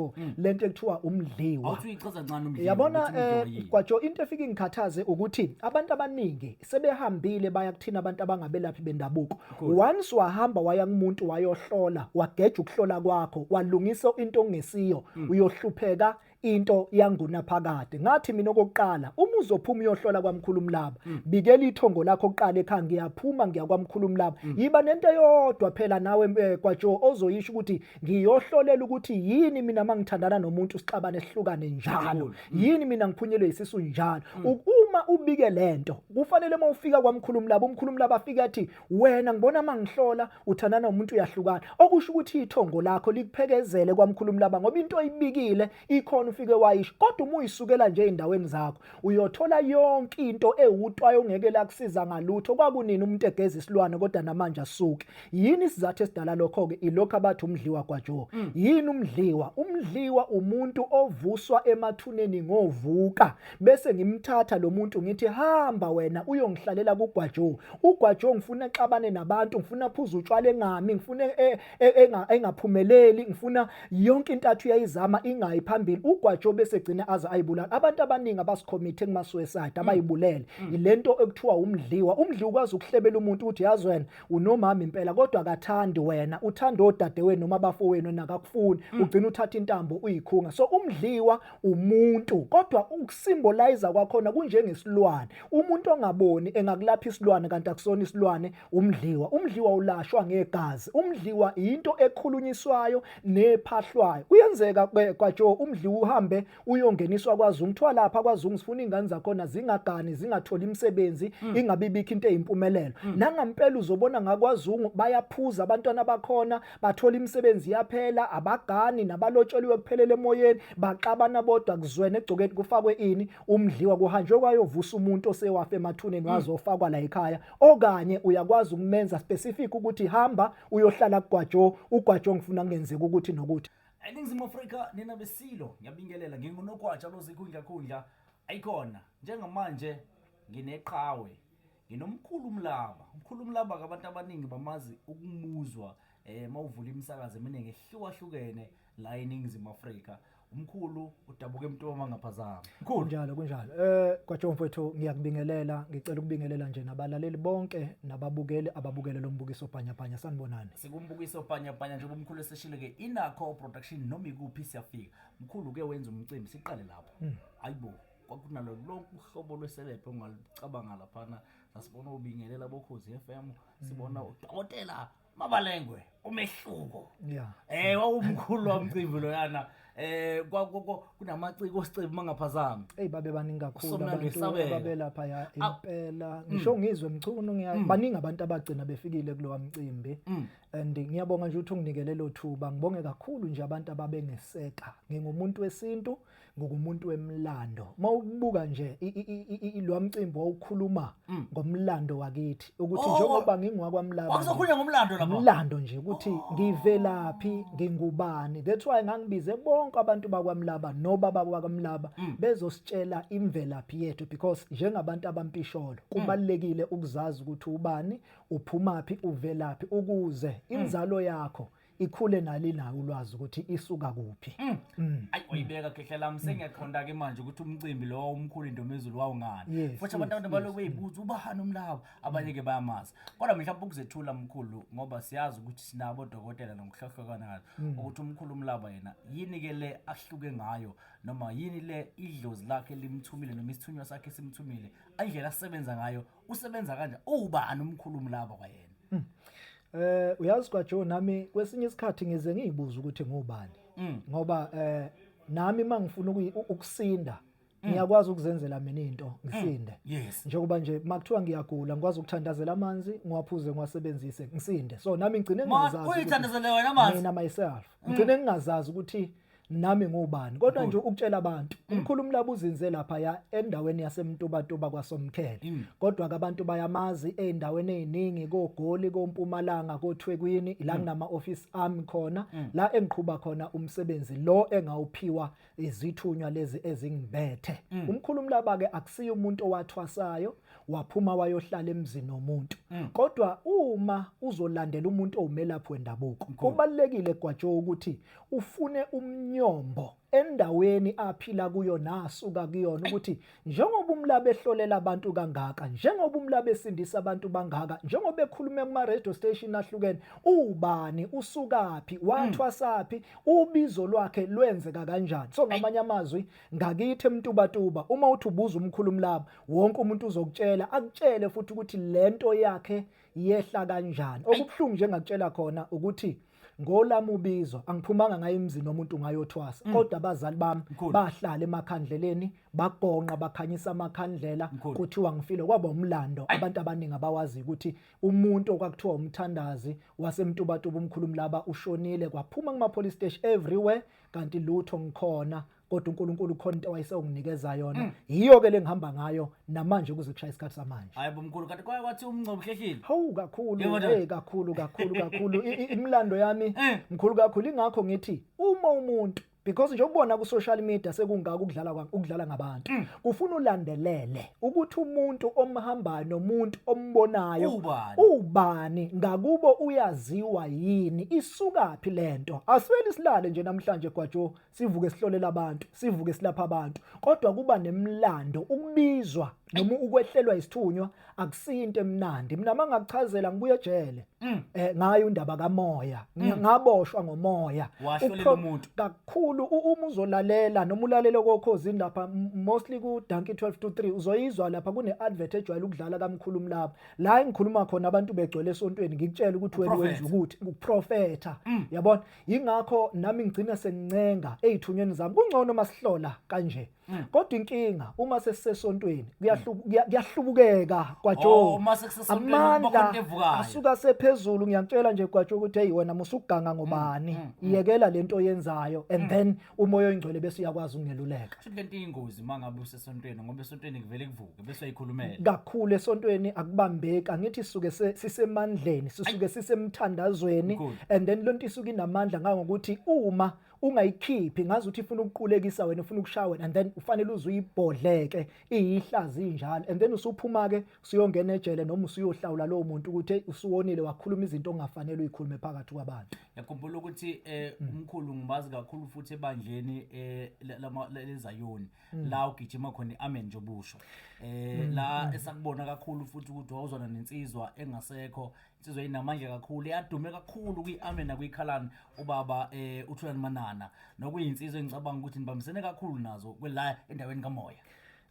kwaJo mm. lento ekuthiwa umdliwa awuthi uyichaza ncane umdliwa yabona eh, kwaJo into efika ingikhathaze ukuthi abantu abaningi sebehambile baya kuthina abantu abangabelaphi bendabuko once wahamba waya kumuntu wayohlola wageja ukuhlola kwakho walungisa into ongesiyo mm. uyohlupheka into yanguna phakade ngathi mina okokuqala uma uzophuma uyohlola kwamkhulu umlaba mm. bikela ithongo lakho oqala ekhaya ngiyaphuma ngiyakwamkhulu umlaba mm. yiba nento eyodwa phela nawe eh, kwaJo ozoyisho ukuthi ngiyohlolela ukuthi yini mina mangithandana nomuntu sixabane sihlukane njalo mm. yini mina ngiphunyelwe isisu njalo mm. uma ubike lento kufanele uma ufika kwamkhulumi labo umkhulumi labo afike athi wena ngibona mangihlola uthandana nomuntu uyahlukana okusho ukuthi ithongo lakho likuphekezele kwamkhulumi laba ngoba into oyibikile ikhona ufike wayisho kodwa uma uyisukela nje ezindaweni zakho uyothola yonke into ewutwayo ongeke lakusiza ngalutho kwakunini umuntu egeza isilwane kodwa namanje asuke yini isizathu esidala lokho ke ilokho abathi umdliwa kwaJoe mm. yini umdliwa umdliwa umuntu ovuswa emathuneni ngovuka bese ngimthatha lo muntu ngithi hamba wena uyongihlalela kugwaJoe ugwaJoe ngifuna exabane nabantu ngifuna phuza utshwala engami ngifuna e, engaphumeleli ngifuna yonke intathu yayizama ingayi phambili ugwajo bese gcina aze ayibulala abantu abaningi abasikhomithe kumasweside mm. abayibulele mm. ilento ekuthiwa umdliwa umdli ukwazi ukuhlebela umuntu ukuthi yazi wena unomama impela kodwa akathandi wena uthanda odadewenu noma abafowenu nakakufuni mm. ugcina uthatha intambo uyikhunga so umdliwa umuntu kodwa ukusimbolize kwakhona kunjengesilwane umuntu ongaboni engakulapha isilwane kanti akusona isilwane Umdliwa umdliwa ulashwa ngegazi umdliwa into ekhulunyiswayo nephahlwayo kuyenzeka kwaJo umdliwa uhambe uyongeniswa kwaZungu kuthiwa lapha kwaZungu sifuna ingane zakhona zingagani zingatholi imisebenzi mm. ingabibikho into eyimpumelelo mm. nangampela uzobona ngakwaZungu bayaphuza abantwana bakhona bathola imisebenzi yaphela abagani nabalotshelwe kuphelele emoyeni baxabana bodwa kuzwene egcokeni kufakwe ini umdliwa kuhanjwe kwayovusa umuntu osewafa emathuneni mm. wazofakwa la ekhaya okanye uyakwazi ukumenza specific ukuthi hamba uyohlala kugwajo ugwajo ngifuna kungenzeka ukuthi nokuthi eningizimu afrika nina besilo ngiyabingelela ngingunogwaja lozikhundlakhundla ayikhona njengamanje ngineqhawe nginomkhulu umlaba umkhulu umlaba kabantu abaningi bamazi ukumuzwa um eh, mawuvula imisakazo eminingi ehlukahlukene la eningizimu afrika umkhulu udabuka emntoma ngaphazama mkhulu kunjalo kunjalo eh kwaJohn mfowethu ngiyakubingelela ngicela ukubingelela nje nabalaleli bonke nababukeli ababukele lo mbukiso bhanya bhanya sanibonani sikumbukiso bhanya bhanya njengoba umkhulu eseshilo ke inakho production noma ikuphi siyafika mkhulu ke wenza umcimbi siqale lapho hmm. ayibo kwakunalo lonke uhlobo lweselebhe ongalicabanga laphana sasibona ubingelela bokhozi FM sibona hmm. udokotela mabalengwe umehluko yeah. eh wawumkhulu wamcimbi loyana eh kunamaciko osicebe mangaphazami hey babe baningi kakhulu abantu ababelapha ya ah. impela mm. ngisho ngizwe mchunu ngiya mm. baningi abantu abagcina befikile kulowa mcimbi mm. and ngiyabonga nje ukuthi unginikele lo thuba ngibonge kakhulu nje abantu ababengeseka ngingumuntu wesintu ngokumuntu wemlando mawubuka nje lo mcimbi wawukhuluma mm. ngomlando wakithi ukuthi oh, oh. njengoba ngingwakwamlando wakuzokhuluma ngomlando lapho umlando nje ukuthi oh. ngivelaphi ngingubani that's why ngangibize bonke abantu bakwamlaba nobaba kwakamlaba mm. bezositshela imvelaphi yethu because njengabantu abampisholo mm. kubalekile ukuzazi ukuthi ubani uphumaphi uvelaphi ukuze inzalo yakho ikhule nalinawo ulwazi ukuthi isuka kuphi Mm. Mm. ayi uyibeka khehla lami sengiyaqonda ke manje ukuthi umcimbi lowo omkhulu intomezulu wawungani Yes, futhi yes, abantu abantu yes, Mm. baloku beyibuza ubani umlaba abanye ke bayamazi kodwa mhlawumbe ukuzethula mkhulu ngoba siyazi ukuthi sinabo odokotela nokuhlohlokana ngayo Mm. ukuthi umkhulu umlaba yena yini ke le ahluke ngayo noma yini le idlozi lakhe limthumile noma isithunywa sakhe simthumile indlela asebenza ngayo usebenza kanje uwubani umkhulumi laba kwayena mm. eh uyazi kwa Joe nami kwesinye isikhathi ngize ngiyibuza ukuthi ngubani mm. ngoba eh nami mangifuna ukusinda Mm. ngiyakwazi ukuzenzela mina into mm. ngisinde njengoba nje makuthiwa ngiyagula ngikwazi ukuthandazela amanzi ngiwaphuze ngiwasebenzise ngisinde so nami ngigcine ngingazazi uyithandazele wena amanzi mina myself mm. ngigcine ngingazazi ukuthi nami ngubani kodwa nje ukutshela abantu mm. umkhulu umlaba uzinze lapha ya endaweni yasemtubatuba kwasomkhele mm. kodwa ke abantu bayamazi eindaweni eziningi kogoli kompumalanga kothwekwini ila mm. nama office ami khona la engiqhuba khona umsebenzi lo engawuphiwa izithunywa lezi ezingibethe umkhulu umlaba ke akusiyo umuntu owathwasayo waphuma wayohlala emzini womuntu kodwa uma uzolandela umuntu owumelaphi wendabuko kubalekile gwajo ukuthi ufune umnyombo endaweni aphila kuyo nasuka kuyona ukuthi njengoba umlabe ehlolela abantu kangaka njengoba umlabe esindisa abantu bangaka njengoba ekhuluma kuma radio station ahlukene ubani usukaphi wathwasaphi hmm. ubizo lwakhe lwenzeka kanjani so ngamanye amazwi ngakithi emtubatuba uma uthi ubuza umkhulu mlaba wonke umuntu uzokutshela akutshele futhi ukuthi lento yakhe yehla kanjani okubuhlungu njengakutshela khona ukuthi ngolami ubizo angiphumanga ngayo emzini womuntu ngayothwasa mm. kodwa abazali bami bahlala emakhandleleni bagonqa bakhanyisa amakhandlela kuthiwa ngifile kwaba umlando abantu abaningi abawazi ukuthi umuntu okwakuthiwa umthandazi wasemtubatuba umkhulumi laba ushonile kwaphuma kuma police station everywhere kanti lutho ngikhona kodwa uNkulunkulu khona into awayesenginikeza yona mm. yiyo ke lengihamba ngayo namanje kuze kushaya isikhathi samanje hayi bomkhulu kanti kwaye kwathi umncobo hlehlile hawu kakhulu hey kakhulu kakhulu kakhulu imlando yami eh. mkhulu kakhulu ingakho ngithi uma umuntu because nje ubona ku social media sekungaka ukudlala ukudlala ngabantu mm. ufuna ulandelele ukuthi umuntu omhambayo nomuntu ombonayo ubani ngakubo uyaziwa yini isukaphi lento asweli silale nje namhlanje gwajo sivuke sihlolela abantu sivuke silapha abantu kodwa kuba nemlando ukubizwa noma ukwehlelwa isithunywa akusinto emnandi mina mangakuchazela ngibuye ejele mm. eh ngayo indaba kamoya mm. ngaboshwa ngomoya kakhulu uma uzolalela noma ulalele kokhozi lapha mostly ku Dankie 12 to 3 uzoyizwa lapha kune advert ejwayele ukudlala kamkhulu mlaba la engikhuluma khona abantu begcwele esontweni ngikutshela ukuthi wena wenza ukuthi ukuprofetha mm. yabona yingakho nami ngigcina sengincenga ezithunyweni zami kungcono masihlola kanje hmm. kodwa inkinga uma sesisesontweni kuyahlubukeka kwajo oh, amandla asuka sephezulu ngiyakutshela nje kwajo ukuthi hey wena musuganga ngobani hmm, hmm, iyekela lento oyenzayo and then umoya oyingcwele bese uyakwazi ukungeluleka futhi lento ingozi mangabe usesontweni ngoba esontweni kuvele kuvuke kakhulu esontweni akubambeki angithi suke sisemandleni sisuke sisemthandazweni and then lonto isuke inamandla ngangokuthi uma ungayikhiphi ngazi ukuthi ifuna ukuqulekisa wena ufuna ukushaya wena and then ufanele uze uyibhodleke iyihlazi injalo and then usuphuma ke usuyongena ejele noma usuyohlawula lowo muntu ukuthi usuwonile wakhuluma izinto ongafanele uyikhulume phakathi kwabantu yakhumbula ukuthi eh, mm. umkhulu ngibazi kakhulu futhi ebandleni eh, lezayoni Hmm. la ugijima khona i-amen nje obusho eh hmm, la hmm. esakubona kakhulu futhi ukuthi wawuzona nensizwa engasekho insizwa inamandla kakhulu iyadume kakhulu kwi-amen nakwikhalani ubaba eh uthulani manana nokuyinsizwa engicabanga ukuthi nibambisene kakhulu nazo kwela endaweni kamoya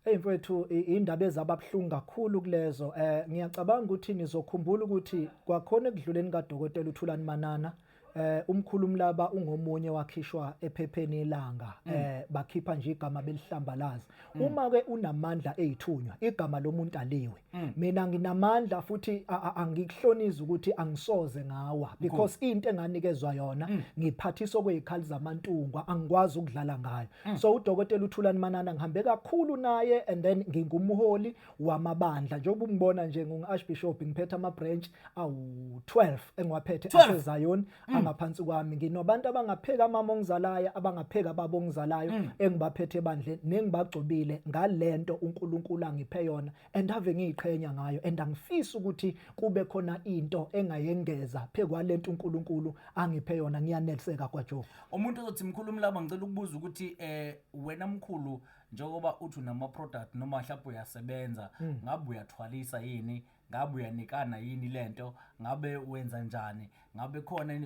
Hey mfethu indaba ezababuhlungu kakhulu kulezo eh ngiyacabanga ukuthi nizokhumbula ukuthi kwakhona ekudluleni kadokotela uThulani Manana eh umkhulu umlaba ungomunye wakhishwa ephepheni elanga mm. eh bakhipha nje igama belihlambalaza mm. uma ke unamandla ezithunywa igama lomuntu aliwe mm. mina nginamandla futhi angikuhloniza ukuthi angisoze ngawa because into enganikezwa yona ngiphathisa okwezikhali zamantungwa angikwazi ukudlala ngayo so udokotela uthulani manana ngihambe kakhulu naye and then ngingumholi wamabandla njengoba ungibona nje ngingu-archbishop ngiphethe ama-branch awu-12 engiwaphethe asezion mm. angaphansi kwami nginobantu abangapheka amama ongizalayo abangapheka baba ongizalayo mm. engibaphethe ebandleni nengibagcobile ngale nto unkulunkulu angiphe yona and ave ngiyiqhenya ngayo and angifisi ukuthi kube khona into engayengeza phe kwale nto unkulunkulu angiphe yona ngiyaneliseka kwajoe umuntu ozothi mkhulu umlaba ngicela ukubuza ukuthi um wena mkhulu njengoba uthi unama-product noma mhlawumbe uyasebenza hmm. ngabe uyathwalisa yini ngabe uyanikana yini le nto ngabe wenza njani ngabe khona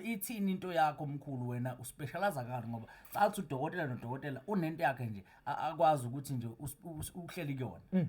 ithini into yakho mkhulu wena uspeshalaza kani ngoba cathi udokotela nodokotela unento yakhe nje akwazi ukuthi nje uhleli kuyona hmm.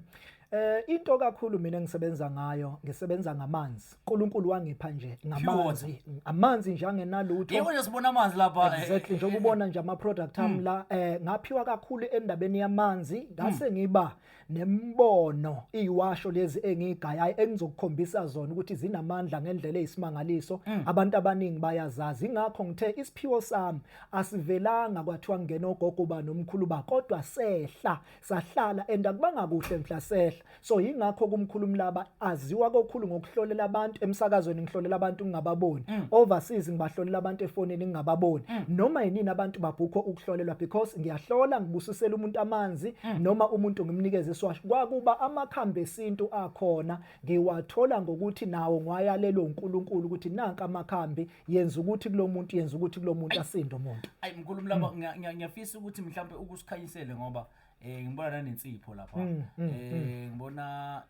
Eh into kakhulu mina ngisebenza ngayo ngisebenza ngamanzi. uNkulunkulu wangipha nje ngamanzi. Amanzi nje angenalutho. Yebo nje sibona amanzi lapha. Eh, exactly njengoba eh, ubona nje ama product am hmm. la eh ngaphiwa kakhulu endabeni yamanzi ngase hmm. ngiba nembono iwasho lezi engigayayo engizokukhombisa zona ukuthi zinamandla ngendlela eyisimangaliso hmm. abantu abaningi bayazazi ingakho ngithe isiphiwo sami asivelanga kwathiwa ngena ogogo ba nomkhulu ba kodwa sehla sahlala and akubanga kuhle mhla sehla so yingakho kumkhulu umlaba aziwa kokhulu ngokuhlolela abantu emsakazweni ngihlolela abantu ngingababoni mm. overseas ngibahlolela abantu efonini ngingababoni mm. noma yinini abantu babhukho ukuhlolelwa because ngiyahlola ngibusisela umuntu amanzi mm. noma umuntu ngimnikeze iswasho kwakuba amakhambi esintu akhona ngiwathola ngokuthi nawo ngwayalelwe uNkulunkulu ukuthi nanka amakhambi yenza ukuthi kulo muntu yenza ukuthi kulo muntu asinde umuntu ayi mkhulu mlaba hmm. ngiyafisa ukuthi mhlawumbe ukusikhanyisele ngoba eh ngibona nanensipho lapha hmm, hmm, eh ngibona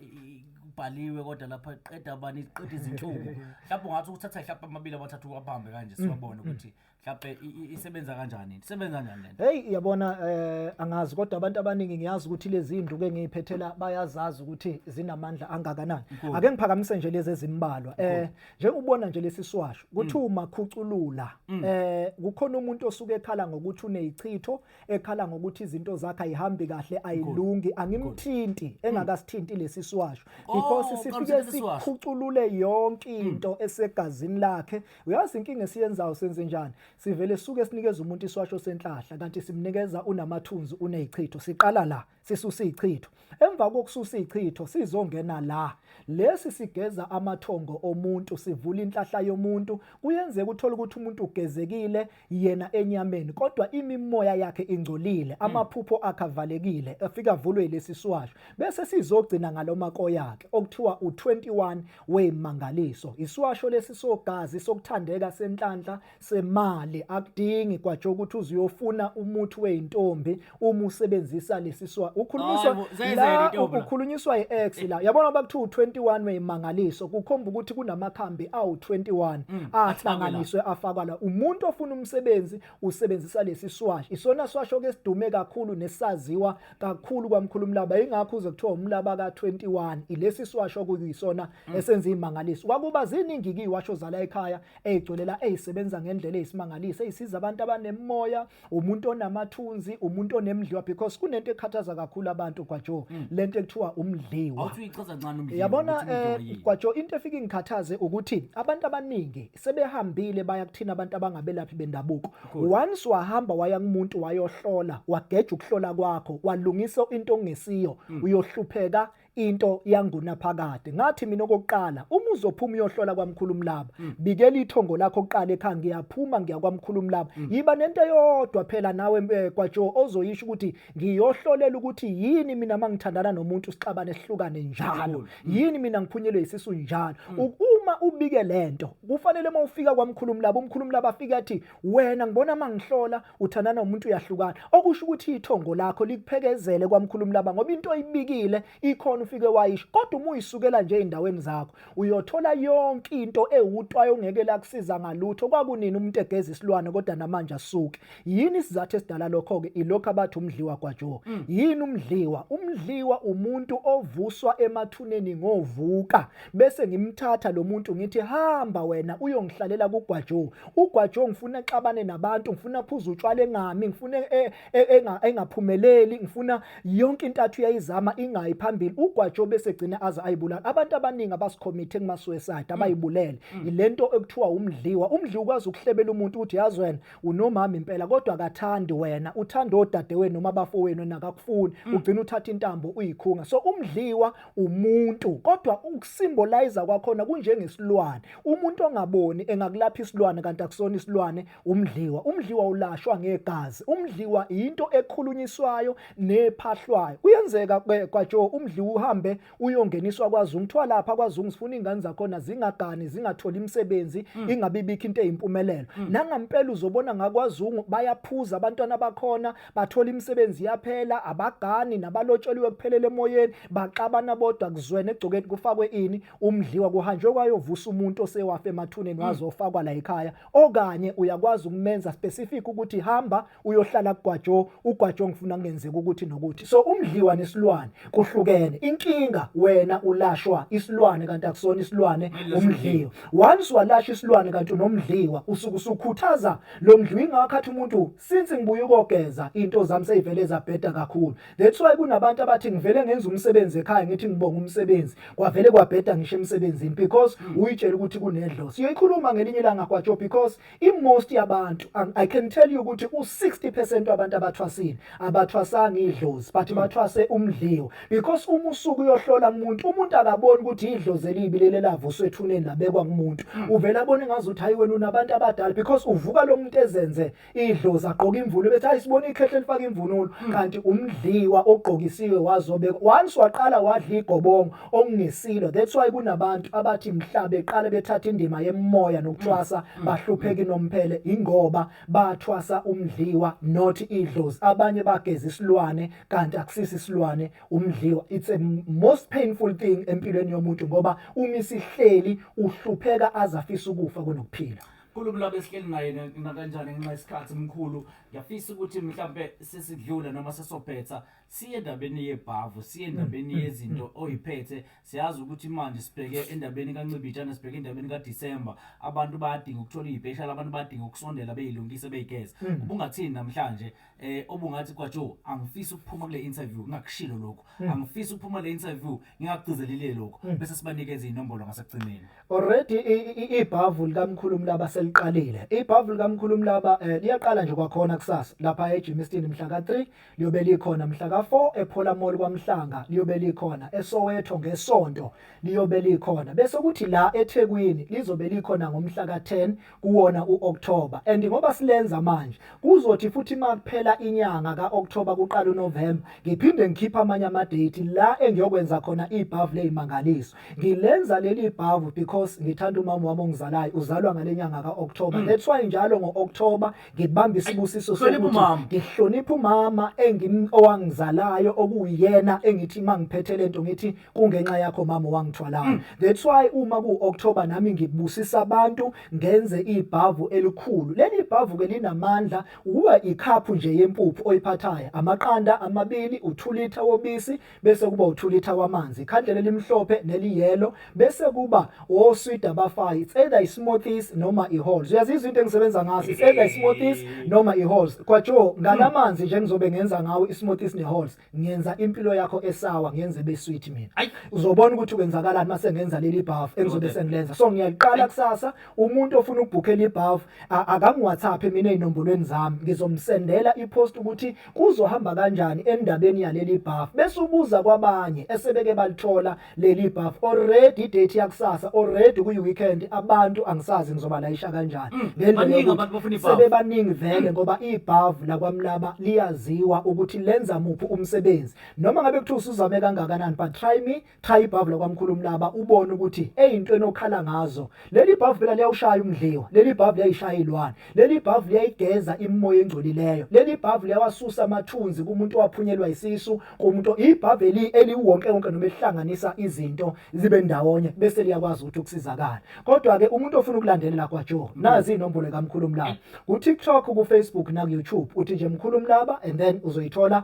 kubhaliwe kodwa lapha qeda abani qeda izinhlungu mhlawumbe ungathi ukuthatha mhlawumbe amabili abathathu abambe kanje siwabone ukuthi mhlawumbe isebenza kanjani isebenza kanjani lento hey yabona eh angazi kodwa abantu abaningi ngiyazi ukuthi lezi induku engiyiphethela bayazazi ukuthi zinamandla angakanani ake ngiphakamise nje lezi ezimbalwa eh njengobona nje lesiswasho kuthiwa mm. makhuculula mm. eh kukhona umuntu osuke ekhala ngokuthi unezichitho ekhala ngokuthi izinto zakhe ayihambi kahle ayilungi angimthinti mm. engakasithinti lesiswasho oh, because sifike sikhuculule yonke into esegazini lakhe uyazi inkinga esiyenzayo senze njani sivele suke sinikeza umuntu iswasho senhlahla kanti simnikeza unamathunzi unezichitho siqala la sisusa ichitho emva kokususa ichitho sizongena la lesi sigeza amathongo omuntu sivula inhlahla yomuntu kuyenzeka uthola ukuthi umuntu ugezekile yena enyameni kodwa imimoya yakhe ingcolile hmm. amaphupho akavalekile afika vulwe lesi siwasho bese sizogcina ngaloma koyakhe okuthiwa u21 wemangaliso isiwasho lesi sogazi sokuthandeka senhlanhla semali akudingi kwatsho ukuthi uzuyofuna umuthi weintombi uma usebenzisa lesiswa ukhulunyiswa la ukukhulunyiswa iex la yabona bakuthiwa u21 weyimangaliso kukhomba ukuthi kunamakhambi awu21 mm, ahlanganiswe afakwa la umuntu ofuna umsebenzi usebenzisa lesiswash isona swasho ke sidume kakhulu nesaziwa kakhulu kwamkhulumlaba ingakho uze kuthiwa umlaba ka21 ilesiswasho kuyisona mm. esenza imangaliso kwakuba ziningi kiwasho zala ekhaya eyigcwele la eyisebenza ngendlela eyisimangaliso eyisiza abantu abanemoya umuntu onamathunzi umuntu onemdliwa because kunento ekhathaza kakhulu abantu kwajo mm. lento ekuthiwa umdliwa awuthi uyichaza kancane umdliwa yabona eh, kwajo into efika ingikhathaze ukuthi abantu abaningi sebehambile baya kuthina abantu abangabelaphi bendabuko once wahamba waya kumuntu wayohlola wageja ukuhlola kwakho walungisa into ongesiyo mm. uyohlupheka into yangunaphakade ngathi mina okokuqala uma uzophuma uyohlola kwamkhulu umlaba mm. bikela ithongo lakho oqala ekhaya ngiyaphuma ngiya kwamkhulu umlaba mm. yiba nento eyodwa phela nawe eh, kwajo ozoyisho ukuthi ngiyohlolela ukuthi yini mina mangithandana nomuntu sixabane sihlukane njalo mm. yini mina ngiphunyelwe isisu njalo uma ubike lento kufanele uma ufika kwamkhulu umlaba umkhulu umlaba afike athi Wena ngibona mangihlola uthandana umuntu uyahlukana okusho ukuthi ithongo lakho likuphekezele kwamkhulumi laba ngoba into oyibikile ikhona ufike wayisho kodwa uma uyisukela nje endaweni zakho uyothola yonke into ewutwayo ongeke lakusiza ngalutho kwakunini umuntu egeza isilwane kodwa namanje asuke yini isizathu esidala lokho ke ilokho abathi umdliwa kwaJoe mm. yini umdliwa umdliwa umuntu ovuswa emathuneni ngovuka bese ngimthatha lo muntu ngithi hamba wena uyongihlalela kugwajo ugwajo ngifuna exabane nabantu ngifuna phuza utshwala engami ngifuna e, e, engaphumeleli ngifuna yonke intathu yayizama ingayi phambili ugwajo bese gcina aze ayibulala abantu abaningi abasikhomithe kuma suicide abayibulele mm. mm. ilento ekuthiwa umdliwa umdliwa ukwazi ukuhlebela umuntu ukuthi yazi wena unomama impela kodwa akathandi wena uthanda odadewenu noma abafowenu nakakufuni mm. ugcina uthatha intambo uyikhunga so umdliwa umuntu kodwa ukusimbolize kwakhona kunjengesilwane umuntu ongaboni engakulapha isilwane kanti akusona isilwane umdliwa umdliwa ulashwa ngegazi umdliwa into ekhulunyiswayo nephahlwayo kuyenzeka kwajo umdliwa uhambe uyongeniswa kwaZungu kuthiwa lapha kwaZungu sifuna ingane zakhona zingagani zingatholi imisebenzi mm. ingabibikho into eyimpumelelo mm. nangampela uzobona ngakwaZungu bayaphuza abantwana bakhona bathola imisebenzi yaphela abagani nabalotshelwe kuphelele emoyeni baxabana bodwa kuzwene egcokeni kufakwe ini umdliwa kuhanjwe kwayovusa umuntu osewafa emathuneni waze mm. ofakwa la ekhaya okanye uyakwazi ukumenza specific ukuthi hamba uyohlala kugwajo ugwajo ngifuna kungenzeka ukuthi nokuthi so umdliwa nesilwane kuhlukene inkinga wena ulashwa isilwane kanti akusona isilwane umdliwa once walasha isilwane kanti unomdliwa usuke usukhuthaza lo mdliwa ingakho athi umuntu Since ngibuye ukogeza into zami seyivele zabheda kakhulu. That's why kunabantu abathi ngivele ngenza umsebenzi ekhaya ngithi ngibonga umsebenzi. Kwavele kwabheda ngisho emsebenzini because hmm. uyitshela ukuthi kunedlo. Siyoyikhuluma ngelinye ilanga kwaJo because imost yabantu um, I can tell you ukuthi u60% wabantu abathwasile abathwasanga idlozi but hmm. bathwase umdliwo. because uma usuku uyohlola umuntu umuntu akaboni ukuthi idlozi elibi leli lavuswa ethuneni labekwa kumuntu hmm. uvele abone ngazi ukuthi hayi wena unabantu abadala because uvuka lo muntu ezenze idlozi agqoka imvunulo bethi hayi sibona ikhehle lifaka imvunulo hmm. kanti umdliwa ogqokisiwe wazobe once waqala wadla igobongo okungesilo that's why kunabantu abathi mhla beqala bethatha indima yemoya nokuthwasa hmm. bahlupheki nomphele ingoba bathwasa umdliwa not idlozi abanye bageza isilwane kanti akusisi isilwane umdliwa it's a most painful thing empilweni yomuntu ngoba uma isihleli uhlupheka azafisa ukufa kunokuphila Mkhulu kulabo esihleli naye nakanjani ngenxa yesikhathi mkhulu ngiyafisa ukuthi mhlampe sesidlula noma sesobhetha siye endabeni yebhavu siye endabeni yezinto oyiphethe siyazi ukuthi manje sibheke endabeni kancibijana sibheke endabeni kadisemba abantu bayadinga ukuthola iy'peshali abantu bayadinga ukusondela beyilungise beyigeza hmm. ubungathini namhlanje eh obungathi kwajo angifisi ukuphuma kule interview ngakushilo lokho hmm. angifisi ukuphuma kule interview ngingakugcizelile lokho hmm. bese sibanikeza inombolo ngasekugcineni already ibhavu likamkhulumi laba seliqalile ibhavu likamkhulumi laba eh, liyaqala nje kwakhona kusasa lapha eGymston mhla ka3 Liyobe likhona mhla ka-4 ePhola Mall kwaMhlanga, liyobe likhona eSoweto ngeSonto, liyobe likhona bese kuthi la eThekwini lizobe likhona ngomhla ka-10 kuwona u-October and ngoba silenza manje kuzothi futhi makuphela inyanga ka-October kuqala uNovember ngiphinde ngikhipha amanye ama-date la engiyokwenza khona ibhavu ley'mangaliso. Ngilenza leli bhavu because ngithanda umama wami ongizalayo uzalwa ngale nyanga ka-October mm. that's why njalo ngo-October ngibambe isibusiso sokuthi ngihloniphe umama engim owangizalayo okuyena engithi mangiphethe lento ngithi kungenxa yakho mama wangithwalayo mm. that's why uma ku October nami ngibusisa abantu ngenze ibhavu elikhulu leli bhavu ke linamandla uwa ikhaphu nje yempuphu oyiphathayo amaqanda amabili uthulitha wobisi bese kuba u-2 liter wamanzi ikhandlela elimhlophe neliyelo bese kuba oswidi abafayo it's either i-smoothies noma i-halls uyazizwa into engisebenza ngaso it's either i-smoothies noma i-halls kwajo ngalamanzi nje ngizobe ngenza ngawo i-smoothies ne-halls ngenza impilo yakho esawa ngenze besweet mina uzobona ukuthi kwenzakalani mase ngenza leli buff engizobe sengilenza so ngiyaqala kusasa umuntu ofuna ukubhukhela ibuff akangiwhatsapp mina ezinombolweni zami ngizomsendela ipost ukuthi kuzohamba kanjani endabeni yaleli buff bese ubuza kwabanye esebeke balithola leli buff already date yakusasa already kuyi weekend abantu angisazi ngizoba layisha kanjani mm, ngendlela yokuthi sebebaningi vele ngoba i buff la kwamlaba liyaziwa ukuthi lenza muphi umsebenzi noma ngabe kuthiwa usuzame kangakanani but try me Cha ibhavu lakwamkhulu Mlaba ubone ukuthi eyinto enokhala ngazo. Leli bhavu phela liyawushaya umdliwa. Leli bhavu liyayishaya ilwane. Leli bhavu liyayigeza imimoya engcolileyo. Leli bhavu liyawasusa amathunzi kumuntu owaphunyelwa isisu, kumuntu ibhavu eli eliwonke wonke noma elihlanganisa izinto zibe ndawonye bese liyakwazi ukuthi ukusizakala. Kodwa ke umuntu ofuna ukulandelela kwa Joe, nazi inombolo kaMkhulu Mlaba. Ku TikTok, ku Facebook na ku YouTube uthi nje Mkhulu Mlaba and then uzoyithola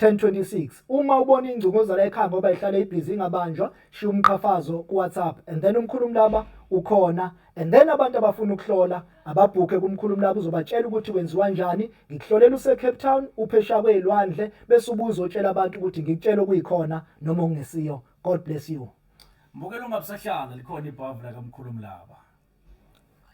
1026 uma ubona ingcunguzala ekhaya ngoba ihlale ibhizi ingabanjwa shiya umqhafazo kuwhatsapp and then umkhulumi laba ukhona and then abantu abafuna ukuhlola ababhukhe kumkhulumi laba uzobatshela ukuthi kwenziwa njani ngikuhlolela usecape town uphesha kweyilwandle bese ubuza otshela abantu ukuthi ngikutshela okuyikhona noma okungesiyo god bless you mbukela ungabusahlala likhona ibhavu lakamkhulumi laba